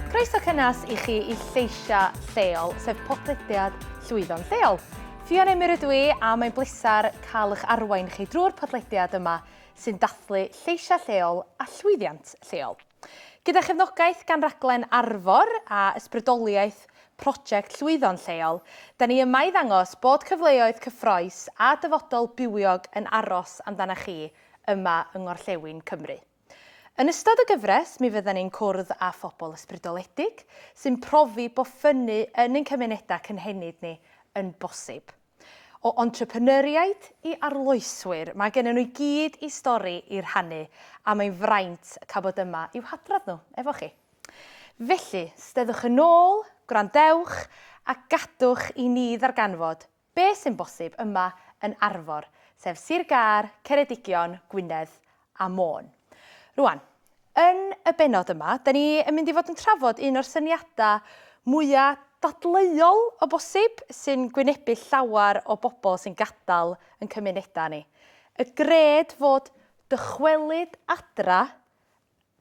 Croeso cynnes i chi i Lleisiau Lleol, sef podlediad llwyddo'n lleol. Fion Emyr ydw i a mae'n bleser cael eich arwain chi drwy'r podlediad yma sy'n dathlu lleisiau lleol a llwyddiant lleol. Gyda chefnogaeth gan Raglen Arfor a ysbrydoliaeth Prosiect Llwyddo'n Lleol, da ni yma i ddangos bod cyfleoedd cyffroes a dyfodol bywiog yn aros amdana chi yma yng Ngorllewin Cymru. Yn ystod y gyfres mi fyddan ni'n cwrdd â phobl ysbrydoledig sy'n profi bod ffynnu yn ein cymunedau cynhenid ni yn bosib. O entrepreneuriaid i arloeswyr, mae gennyn nhw i gyd i stori i rhannu a mae'n fraint cael bod yma i'w hadrodd nhw efo chi. Felly, steddwch yn ôl, gwrandewch a gadwch i ni ddarganfod be sy'n bosib yma yn Arfor, sef Sir Gâr, Ceredigion, Gwynedd a Môn. Rŵan, yn y bennod yma, da ni yn mynd i fod yn trafod un o'r syniadau mwya dadleuol o bosib sy'n gwynebu llawer o bobl sy'n gadael yn cymunedau ni. Y gred fod dychwelyd adra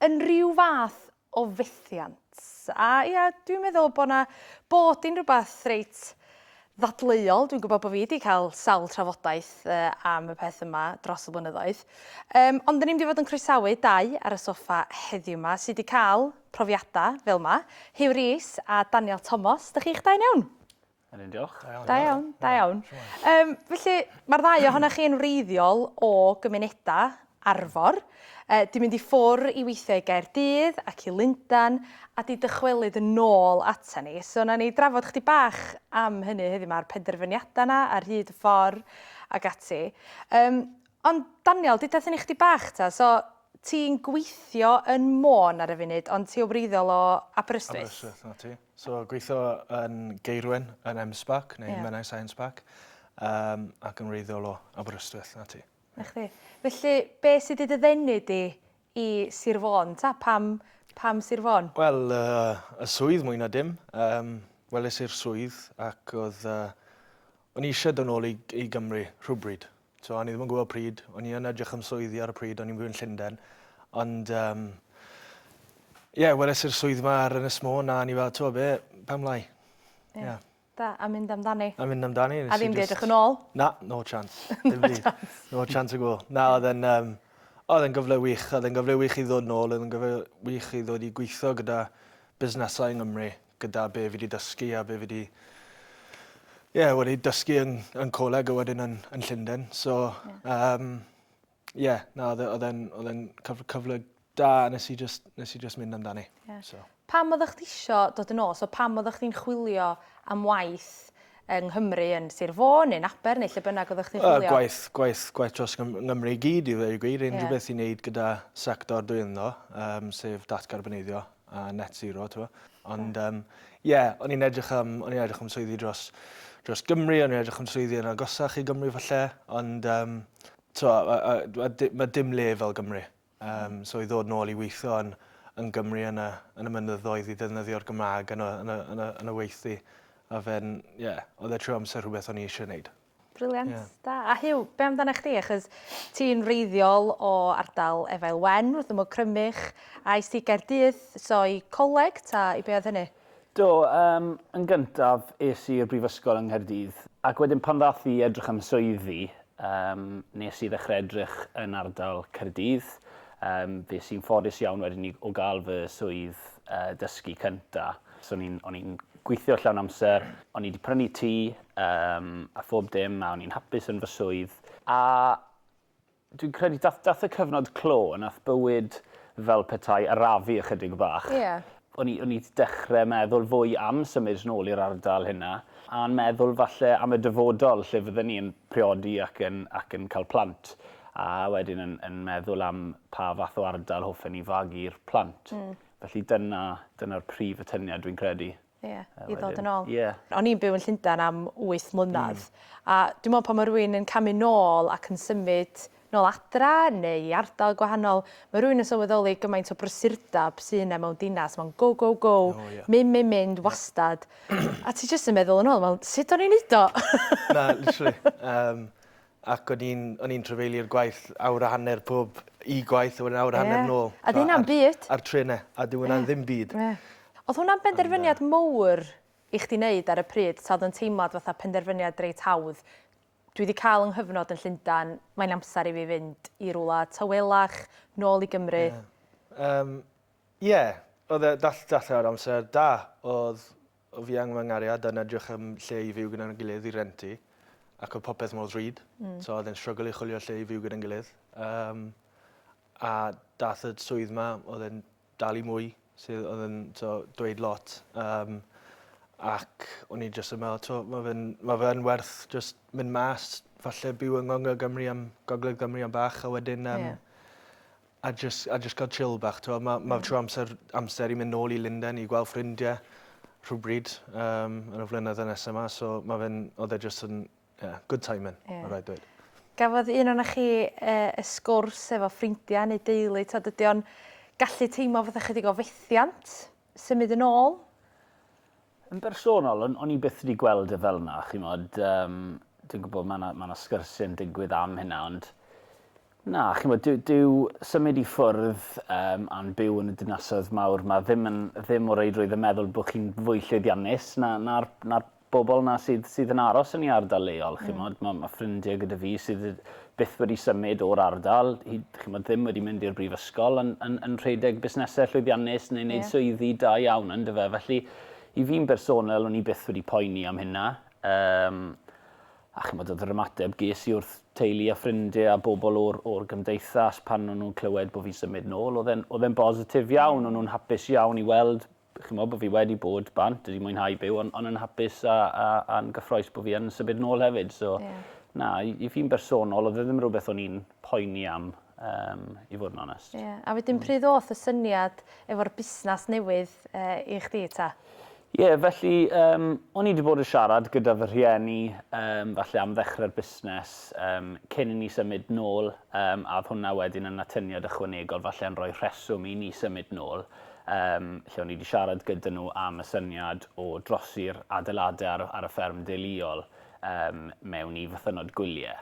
yn rhyw fath o fethiant. A ia, dwi'n meddwl bod 'na, bod hi'n rhywbeth reit ddadleuol. Dwi'n gwybod bod fi wedi cael sawl trafodaeth uh, am y peth yma dros y blynyddoedd. Um, ond dyn ni'n mynd i fod yn croesawu dau ar y soffa heddiw yma sydd wedi cael profiadau fel yma. Hugh Rees a Daniel Thomas, dych chi'ch dau iawn? Yn un diolch. Da iawn. Da iawn, da iawn. Yym felly ma'r ddau ohonoch chi yn wreiddiol o gymuneda Arfor, yy 'di mynd i ffwr' i weithio i Gaerdydd ac i Lundan a 'di dychwelyd yn ôl ata ni. So na ni drafod chdi bach am hynny heddiw 'ma a'r penderfyniada 'na ar hyd y ffor ag ati. Yym ond Daniel deuda thyn i chdi bach ta so ti'n gweithio yn Môn ar y funud ond ti o wreiddiol o Aberystwyth? Aberystwyth, 'na ti. So gweithio yn Geirwen yn M-Sparc neu yeah. Menai Science Park um, ac yn wreiddiol o Aberystwyth na ti. Na chdi. Felly, be sydd wedi ddenu di i Sir Fôn? Ta, pam, pam Sir Fôn? Wel, uh, y swydd mwy na dim. Um, Weles i'r swydd ac oedd... Uh, o'n i eisiau dod nôl i, i Gymru rhywbryd. So o'n i ddim yn gwybod pryd, o'n i yn edrych am swyddi ar y pryd, o'n i'n byw yn Llundain. Ond, um, ie, yeah, weles i'r swydd yma ar Ynys Môn a ni fel, to be, pam lai? Ie. Yeah. Da, a mynd amdani. A mynd amdani. A ddim di edrych yn ôl? Na, no chance. no chance. No chance o gwbl. Na, oedd yn... Um, oedd yn gyfle wych, oedd yn gyfle wych i ddod nôl, oedd yn gyfle wych i ddod i gweithio gyda busnesau yng Nghymru, gyda be fi di dysgu a be fi di ie wedi dysgu yn yn coleg a wedyn yn yn Llunden so yym ie na odd e- odd e'n odd e'n cyf- cyfle da a nes i jyst nes i jyst mynd amdani. Ie. So. Pam oddach chdi isio dod yn ôl so pam oddach chdi'n chwilio am waith yng Nghymru yn Sir Fôn neu'n Aber neu lle bynnag oddach chdi'n chwilio? Yy gwaith gwaith gwaith dros Gym- Nghymru i gyd i ddweud y gwir unrhyw beth i neud gyda sector dwi ynddo yym sef datgarboneiddio a net zero, ti'n gwybod. Ond, ie, um, yeah, o'n i'n edrych am, o'n i'n edrych am swyddi dros, dros Gymru, o'n i'n edrych am swyddi yn agosach i Gymru falle, ond, um, to, mae dim le fel Gymru. Um, so i ddod nôl i weithio yn, yn Gymru yn y, yn y mynyddoedd i ddefnyddio'r Gymraeg yn y, yn y, yn y, yn y weithdi. A fe'n, ie, yeah, oedd e trwy amser rhywbeth o'n i eisiau gwneud. Brilliant. Ie. Da. A Huw, be' amdanach chdi achos ti'n wreiddiol o ardal Efail Wen, wrth ymyl Crymych, a es ti i Gaerdydd, so i coleg ta i be' oedd hynny? Do, yym yn gyntaf es i i'r brifysgol yng Nghaerdydd ac wedyn pan ddath i edrych am swyddi yym nes i ddechre edrych yn ardal Caerdydd. Yym fues i'n ffodus iawn wedyn i o ga'l fy swydd yy dysgu cynta. So o'n i'n o'n i'n gweithio llawn amser, o'n i 'di prynu tŷ um, a phob dim, a o'n i'n hapus yn fy swydd. A dwi'n credu dath, dath y cyfnod clo, nath bywyd fel petai arafu ychydig bach. Yeah. O'n i, o'n i dechrau meddwl fwy am symud yn ôl i'r ardal hynna, a'n meddwl falle am y dyfodol lle fydden ni'n priodi ac yn, ac yn cael plant a wedyn yn, yn meddwl am pa fath o ardal hoffen ni fagu'r plant. Mm. Felly dyna, dyna'r prif atyniad dwi'n credu. Ie, i ddod yn ôl. Ie. O'n i'n byw yn Llundain am 8 mlynedd, a dwi'n meddwl pan mae rhywun yn camu nôl ac yn symud nôl adra neu i ardal gwahanol, mae rhywun yn sylweddoli gymaint o brysurdeb sydd yna mewn dinas, mae'n go, go, go, mynd, mynd, mynd, wastad. A ti jyst yn meddwl yn ôl, wel, sut o'n i'n neud o? Na, literally. Yym, Ac o'n i'n o'n i'n trafeilio'r gwaith awr a hanner pob i gwaith a wedyn awr a hanner Ie. nôl. A 'di hynna'n byd? A'r trene. A dyw wnna ddim byd. Ie. O'dd hwnna'n benderfyniad mowr i chdi neud ar y pryd 'ta o'dd o'n teimlad fatha penderfyniad reit hawdd, dwi 'di ca'l 'y nghyfnod yn Llundan, mae'n amser i fi fynd i rwla tawelach, nôl i Gymru? Ie. Yym. Ie. O'dd e dall- dallai fod amser da. O'dd Fi a fy nghariad yn edrych am lle i fyw gyda'n gilydd i rentu ac oedd popeth mor ddrud. Hmm. So oedd e'n strygl i chwilio lle i fyw gyda'n gilydd. Um, a dath y swydd ma, oedd e'n dal i mwy, sydd oedd yn so, dweud lot. Um, ac o'n i jyst yn meddwl, to, mae fe'n ma fe werth just mynd mas, falle byw yng Ngongl Gymru am Gogledd Gymru am bach, a wedyn um, yeah. a jyst a jyst cael chill bach t'mo' ma' ma' trwy amser amser i mynd nôl i Lundain i gweld ffrindie rhywbryd yym yn y flynydde nesa 'ma so ma' fe'n odd e jyst yn ie good timing. Ie. Ma' raid dweud. Gafodd un ona chi yy y sgwrs efo ffrindia neu deulu t'od ydi o'n gallu teimlo fatha chydig o fethiant symud yn ôl? Yn bersonol, o'n i byth wedi gweld e fel 'na, ch'mod, yym, dwi'n gwybod ma' 'na ma' 'na sgyrsiau'n digwydd am hynna ond na, ch'mod, dyw dyw symud i ffwrdd yym a'n byw yn y dinasoedd mawr 'ma ddim yn ddim o reidrwydd yn meddwl bod chi'n fwy llwyddiannus na na'r na'r bobl 'na sydd sydd yn aros yn 'i ardal leol, ch'mod. Ma' ma' ffrindie gyda fi sydd yy byth wedi symud o'r ardal, hyd, chimod, ddim wedi mynd i'r brifysgol yn, yn, yn rhedeg busnesau llwyddiannus neu wneud yeah. swyddi da iawn yn dyfa. Felly, i fi'n bersonol, o'n i byth wedi poeni am hynna. Um, a chymod oedd yr ymateb ges i wrth teulu a ffrindiau a bobl o'r, or gymdeithas pan o'n nhw'n clywed bod fi'n symud nôl, oedd e'n bositif iawn, o'n nhw'n hapus iawn i weld chi'n meddwl bod fi wedi bod bant, wedi mwynhau byw, ond on yn hapus a, a, a'n gyffroes bod fi yn symud nôl hefyd. So, yeah. na, i, i fi'n bersonol, oedd e ddim rhywbeth o'n i'n poeni am, um, i fod yn onest. Yeah. A wedyn mm. pryd oedd y syniad efo'r busnes newydd uh, i chdi ta? Ie, yeah, felly, um, o'n i wedi bod yn siarad gyda fy rhieni, um, falle am ddechrau'r busnes, um, cyn i ni symud nôl, um, a hwnna wedyn yn atyniad ychwanegol, falle yn rhoi rheswm i ni symud nôl. Yym, lle o'n i 'di siarad gyda nhw am y syniad o drosi'r adeiladau ar y, ar y fferm deuluol, yym, mewn i fythynnod gwyliau.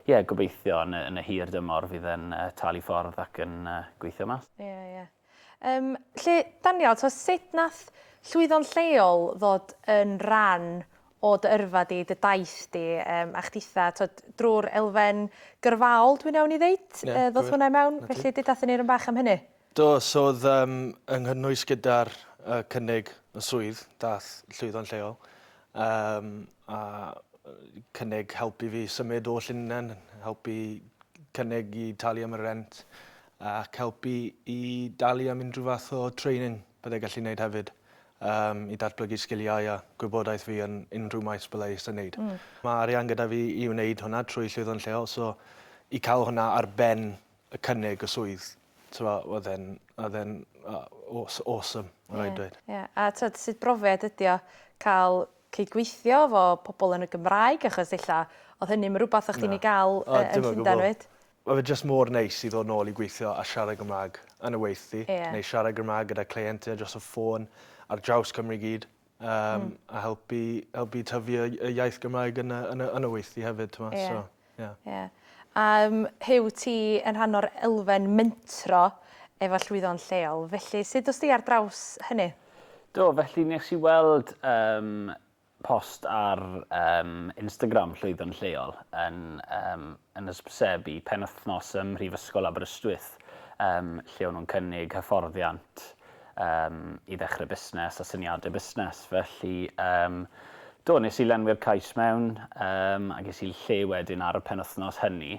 Ie, gobeithio yn y, yn y hir dymor fydd e'n talu ffordd ac yn gweithio mas. Ie, ie. Yym, lle, Daniel, t'o' sut nath llwyddo'n lleol ddod yn ran o dy yrfa di, dy daith di, yym, a chditha', t'od, drw'r elfen gyrfaol dwi'n iawn i ddeud? Ie, gywir. Yy, ddoth hwnna i mewn? Felly, deuda 'thyn ni run bach am hynny. Do, so oedd um, yng nghynnwys gyda'r uh, cynnig y swydd, dath llwyddo'n lleol, um, a cynnig helpu fi symud o Llynnen, helpu cynnig i talu am y rent, ac helpu i dalu am unrhyw fath o training byddai gallu gwneud hefyd um, i datblygu sgiliau a gwybodaeth fi yn unrhyw maes byddai eisiau gwneud. Mm. Mae arian gyda fi i wneud hwnna trwy llwyddo'n lleol, so i cael hwnna ar ben y cynnig y swydd t'mo' oedd e'n oedd e'n aw- awesome ma' raid dweud. Ie ie a t'od sut brofiad ydi o ca'l cydgweithio 'fo pobol yn y Gymraeg achos ella odd hynny'm yn rwbath o' chdi'n ei ga'l yy yn Llundan 'fyd? Ma' fe jyst mor neis i ddod nôl i gweithio a siarad Gymra'g yn y weithdy. Ie. Neu siarad Gymra'g gyda cleientie dros y ffôn ar draws Cymru i gyd. um, mm. a helpu, helpu tyfu y, y iaith Gymraeg yn y, yn y, yn y weithdy hefyd. Tyma, yeah. so, yeah. Yeah. Um, Hyw, ti yn rhan o'r elfen mentro efo llwyddo'n lleol, felly sut os ti ar draws hynny? Do, felly nes i weld um, post ar um, Instagram llwyddo'n lleol yn, um, yn ysbysebu penwthnos ym Mhrifysgol Aberystwyth, um, lle o'n nhw'n cynnig hyfforddiant um, i ddechrau busnes a syniadau busnes. Felly, um, do, nes i lenwi'r cais mewn um, a ges i lle wedyn ar y penwthnos hynny.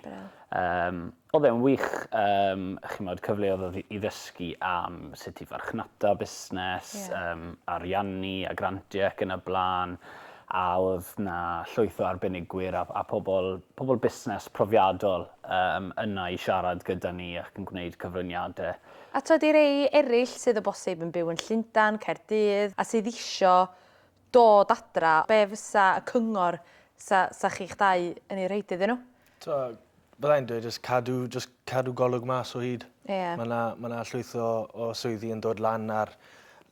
Um, oedd e'n wych, um, chi'n modd cyfleodd i ddysgu am sut i farchnata busnes, yeah. um, ariannu a grantiau ac yn y blaen a oedd na llwyth o arbenigwyr a, a pobl, pobl busnes profiadol um, yna i siarad gyda ni ac yn gwneud cyfraniadau A tybed i rei eraill sydd o bosib yn byw yn Llundain, Caerdydd, a sydd isio dod adra, be fysa y cyngor 'sa 'sa chi'ch dau yn ei rhoid iddyn nhw? Tibod, bydda i'n dweud jyst cadw jyst cadw golwg mas o hyd. Ie. Ma' 'na ma' 'na llwyth o o swyddi yn dod lan ar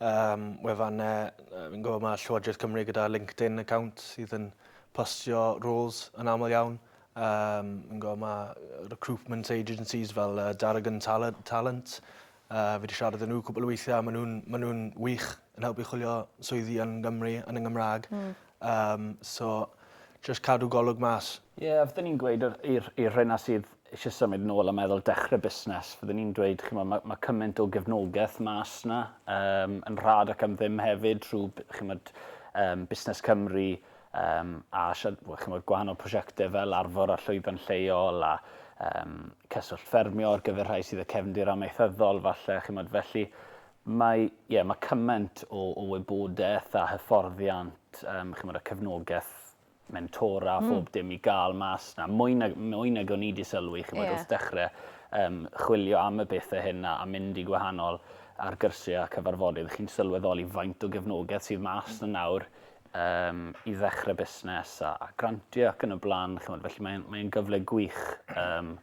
yym wefanne yy fi'n gwybod ma' Llywodraeth Cymru gyda LinkedIn account sydd yn postio roles yn aml iawn Yym, fi'n gweld ma' recruitment agencies fel yy Dargan Tale- Talent, yy fi 'di siarad â nhw cwpwl o weithie a ma' nw'n ma' nw'n wych yn helpu chwilio swyddi yn Gymru yn y Gymra'g. Hmm. Yym so jyst cadw golwg mas. Ie a fydden i'n gweud yr i'r i'r rheina sydd isie symud nôl a meddwl dechre busnes fydden i'n dweud ch'mo' ma' ma' cyment o gefnogeth mas 'na yym yn rhad ac am ddim hefyd rhw b- ch'mod yym Busnes Cymru Yym, a siar- wel, ch'mod, gwahanol prosiecte fel Arfor a Llwyfan Lleol a um, Cyswllt Ffermio ar gyfer rhai sydd y cefndir amaethyddol, falle, ch'mod, felly mae, yeah, mae cymaint o, o wybodaeth a hyfforddiant, um, ch'mod, a cefnogaeth mentora, mm. bob dim i gael mas na. Mwy nag, mwy nag o'n i wedi sylwi, ch'mod, yeah. wrth dechrau um, chwilio am y bethau hyn a, a mynd i gwahanol ar gyrsiau a cyfarfodydd, chi'n sylweddoli faint o gefnogaeth sydd mas na nawr yym i ddechrau busnes a, a grantio ac yn y blaen. Chymod, felly mae'n mae gyfle gwych um,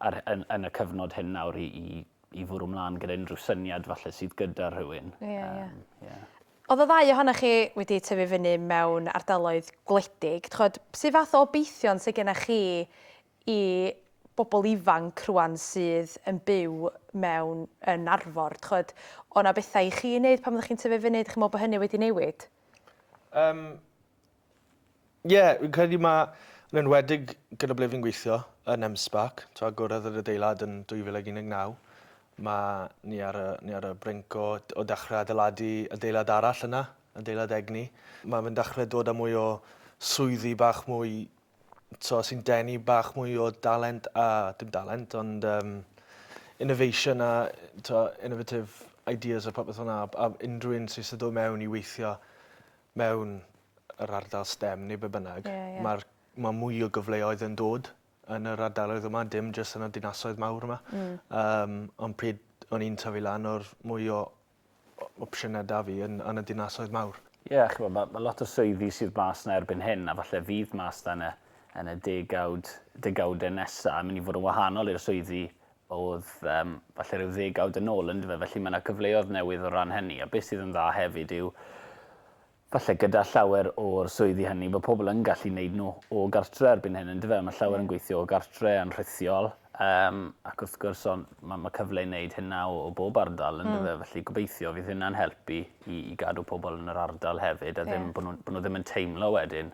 ar, yn, yn, y cyfnod hyn nawr i, i, i fwrw mlaen gyda unrhyw syniad falle sydd gyda rhywun. Ie, yeah, ie. Um, yeah. Oedd y ddau ohonych chi wedi tyfu fyny mewn ardaloedd gwledig. Chod, sydd fath o obeithion sydd gennych chi i bobl ifanc rwan sydd yn byw mewn yn Arfor d'ch'od o' 'na betha i chi neud pan oddech chi'n tyfu fynny dych chi'n me'wl bo hynny wedi newid? Yym ie fi'n credu ma' yn enwedig gyda ble fi'n gweithio yn M-SParc t'o' agorodd yr adeilad yn 2019 ma' ni ar y ni ar y brink o d- o dechre adeiladu adeilad arall yna adeilad egni ma' fe'n dechre dod â mwy o swyddi bach mwy t'o' sy'n denu bach mwy o dalent a dim dalent ond yym innovation a t'o' innovative ideas a popeth fel 'na a b- a unrhyw un sy isie do' mewn i weithio mewn yr ardal stem ne' be' bynnag... Ie ie. ...ma'r ma' mwy o gyfleoedd yn dod yn yr ardaloedd yma dim jyst yn y dinasoedd mawr yma. Hmm. Yym on' pryd o'n i'n tyfu lan o'r mwy o opsiyne 'da fi yn yn y dinasoedd mawr. Ie, ch'mo', ma' ma' lot o swyddi sydd mas 'na erbyn hyn, a falle fydd mas 'na yn y yn y degawd, degawde nesa, yn myn' i fod yn wahanol i'r swyddi o'dd yym falle ryw ddegawd yn ôl, yndyfe? Felly ma' 'na cyfleodd newydd o ran hynny, a be' sydd yn dda hefyd yw Falle gyda llawer o'r swyddi hynny bod pobl yn gallu neud nhw o gartre erbyn hyn yndyfe? Ond ma' llawer yn gweithio o gartre yn rhithiol yym ac wrth gwrs o'n ma' ma' cyfle i neud hynna o o bob ardal yndyfe? Felly gobeithio fydd hynna'n helpu i i gadw pobl yn yr ardal hefyd a ddim bo' nhw'n bo' nhw ddim yn teimlo wedyn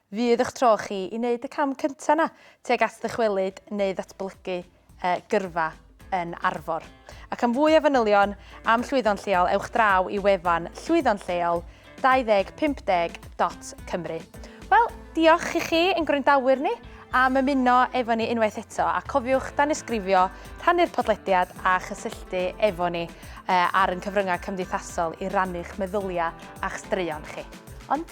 Fydd eich tro chi i wneud y cam cyntaf 'na tuag at ddychwelyd neu ddatblygu gyrfa yn Arfor. Ac am fwy o fanylion am Llwyddo'n Lleol ewch draw i wefan llwyddo'n lleol 2050.cymru. Wel, diolch i chi ein gwrandawyr ni am ymuno efo ni unwaith eto a cofiwch danysgrifio, rhannu'r podlediad a chysylltu efo ni ar ein cyfryngau cymdeithasol i rannu'ch meddyliau a'ch straeon chi. Ond